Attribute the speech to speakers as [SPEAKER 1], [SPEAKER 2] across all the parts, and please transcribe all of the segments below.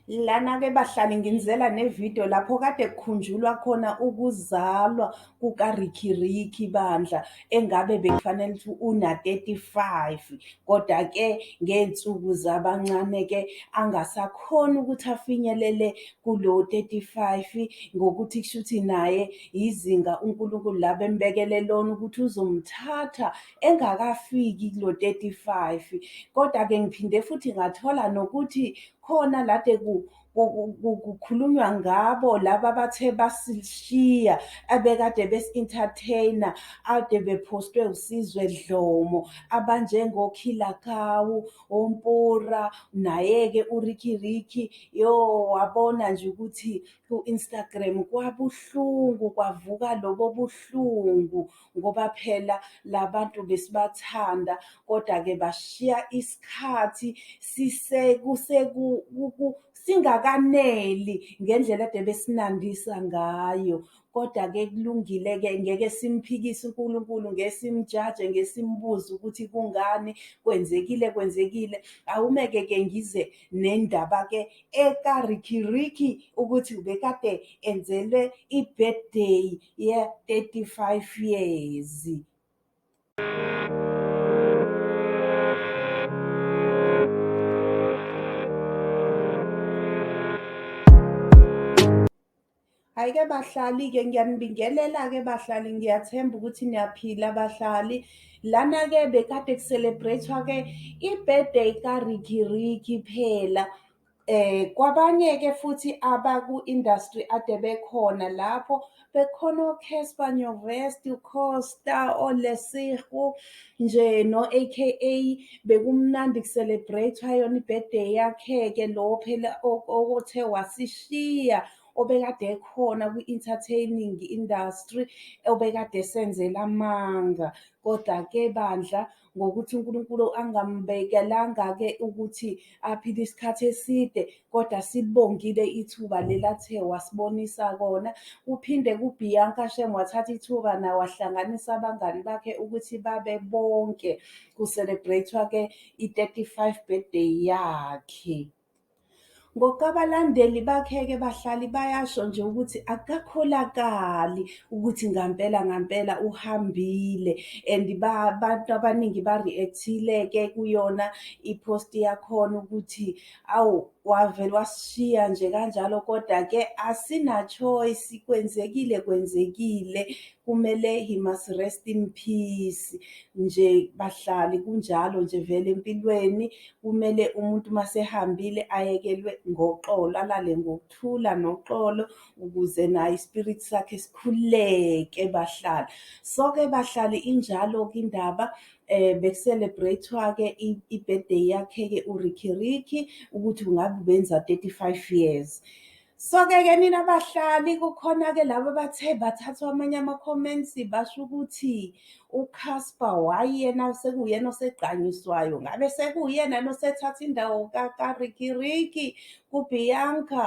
[SPEAKER 1] Lana-ke bahlali nginizela ne-video lapho kade kukhunjulwa khona ukuzalwa kuka-Riky Ricky bandla engabe bekufanele ukuthi una-35 kodwa-ke ngey'nsuku zabancane-ke angasakhona ukuthi afinyelele kulo-35 ngokuthi kusho ukuthi naye yizinga uNkulunkulu la bembekele lona ukuthi uzomthatha engakafiki kulo 35 kodwa ke ngiphinde futhi ngathola nokuthi khona lade ku kukhulunywa ngabo laba bathe basishiya abekade besi-entertaina ade bephostwe usizwe dlomo abanjengokhilakawu ompura naye-ke urikiriki yo wabona nje ukuthi ku-instagram kwabuhlungu kwavuka lobo buhlungu ngoba phela labantu besibathanda kodwa ke bashiya isikhathi sisekuseku singakaneli ngendlela ade besinandisa ngayo kodwa ke kulungile ke ngeke simphikise uNkulunkulu ngesimjaje ngesimbuza ukuthi kungani kwenzekile kwenzekile awumeke ke ngize nendaba ke eka Ricky Ricky ukuthi ubekade enzelwe ibirthday ye-35 years. Ayike bahlali-ke ngiyanibingelela-ke bahlali ngiyathemba ukuthi niyaphila bahlali. Lana-ke bekade ku-celebrate-wa-ke i-birthday ka-Riky Ricky phela. Eh kwabanye-ke futhi abaku-industry ade bekhona lapho bekhona oCasper Nyovest, uCosta, oLesego nje no-AKA bekumnandi ku-celebrate-wa yona i-birthday yakhe-ke lo phela othe wasishiya obekade ekhona kwi-entertaining industry obekade esenzela amanga. Koda-ke bandla ngokuthi uNkulunkulu angambekelanga-ke ukuthi aphile isikhathi eside kodwa sibongile ithuba lelathe wasibonisa kona kuphinde kuBianca Shem wathatha ithuba naye wahlanganisa abangani bakhe ukuthi babe bonke ku-celebrate-wa-ke i-35 birthday yakhe. Ngoku abalandeli bakhe-ke bahlali bayasho nje ukuthi akukakholakali ukuthi ngampela ngampela uhambile and abantu abaningi ba-react-ile-ke kuyona i-post yakhona ukuthi awu wavele wasishiya nje kanjalo kodwa-ke asina-choice kwenzekile kwenzekile kumele he must rest in peace nje bahlali kunjalo nje vele empilweni Kumele umuntu uma sehambile ayekelwe ngoxolo, alale ngokuthula noxolo ukuze naye ispirit sakhe sikhuleke bahlali. So-ke bahlali injalo-ke indaba eh bekuselebrate-wa-ke i-birthday yakhe-ke uRicky Ricky ukuthi ngabe ubenza 35 years. Soke-ke nina bahlali kukhona-ke laba abathe bathathwa amanye ama-comments basho ukuthi uCasper wayena sekuyena osegqanyiswayo ngabe sekuyena nosethatha indawo kakarikiriki kubianca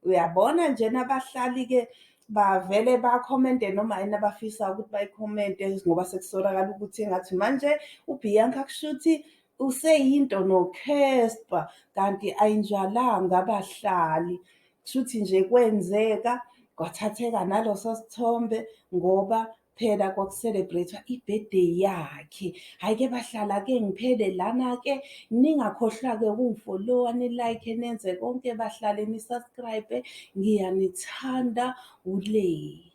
[SPEAKER 1] uyabona nje nabahlali-ke bavele bakhomente noma yini abafisa ukuthi bayikhomente ngoba sekusolakala ukuthi engathi manje ubianca kusho ukuthi useyinto nokhespa kanti ayinjalanga abahlali kushuthi nje kwenzeka kwathatheka naloso sithombe ngoba phela kwakucelebrate ibirthday yakhe hayi ke bahlala ke ngiphele lana ke ningakhohlwa ke ukungifollowa ni like nenze konke bahlale ni subscribe ngiyanithanda ulay